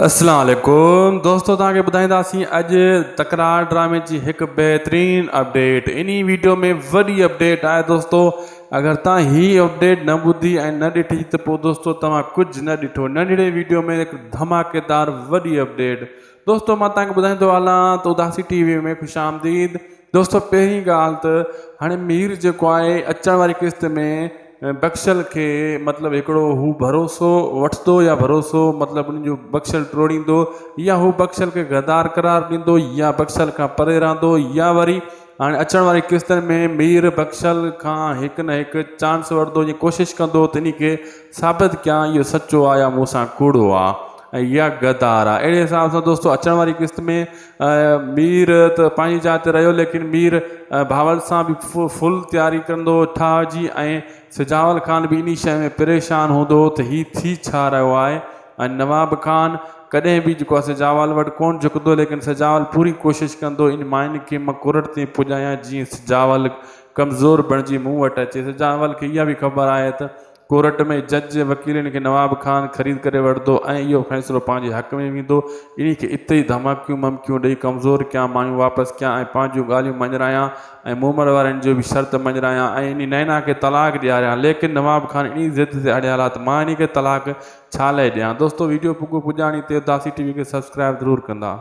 اسلام عليڪم دوستو توهان کي ٻڌائينداسين اڄ تڪرار ڊرامي جي هڪ بهترين اپڊيٽ انهي ويڊيو ۾ وڏي اپڊيٽ آهي دوستو اگر توهان هي اپڊيٽ نه ٻڌي ۽ نه ڏٺي ته پوء دوستو توهان ڪجهه نه ڏٺو ننڍڙي ويڊيو ۾ هڪ ڌماڪيدار وڏي اپڊيٽ دوستو مان توهان کي ٻڌائيندو هلان ته اداسي ٽي وي ۾ خوش آمديد دوستو پهرين ڳالهه ته هاڻي مير جيڪو آهي اچڻ واري قسط ۾ بخشل کي مطلب هڪڙو هو ڀروسو وٺندو يا ڀروسو مطلب ان جو بخشل ٽوڙيندو يا هو بخشل کي غدار قرار ڏيندو يا بخشل کان پري رهندو يا وري هاڻي اچڻ واري قسطن ۾ مير بخشل کان هڪ نه هڪ چانس وٺندو ۽ ڪوشش ڪندو ته انهي کي ثابت ڪيان اهو سچو آ يا مون سان ڪوڙو آ ۽ يا غدار آ اهڙي حساب سان دوستو اچڻ واري قسط ۾ مير ته پنهنجي جاء تي رهيو، ليڪن مير بهاول سان به فل تياري ڪندو هو. ٺاهه جي ۽ سجاول خان به انهي شيء ۾ پريشان هوندو هو ته هي ٿي ڇا رهيو آهي ۽ نواب خان ڪڏهن به جيڪو آهي سجاول وٽ ڪونه جهڪندو ليڪن سجاول پوري ڪوشش ڪندو ان مائن کي مان ڪورٽ تائين پڄايان جيئن سجاول ڪمزور بڻجي مون وٽ اچي. سجاول کي اها به خبر آهي ته ڪورٽ ۾ جج وڪيلن کي نواب خان خريد ڪري وٺندو ۽ اهو فيصلو پنهنجي حق ۾ ويندو. انهي کي اتي ئي ڌماڪيون ممڪيون ڏئي ڪمزور ڪيان، مايون واپس ڪيان ۽ پنهنجيون ڳالهيون مڃرايان ۽ مومل وارن جو به شرط مڃرايان ۽ انهي نينا کي طلاق ڏياريان. ليڪن نواب خان انهي ضد تي اڙيل آهي ته مان انهي کي طلاق ڇا لئي ڏيان. دوستو ويڊيو پڳو پڄاڻي تي اداسي ٽي وي کي سبسڪرائب ضرور ڪندا.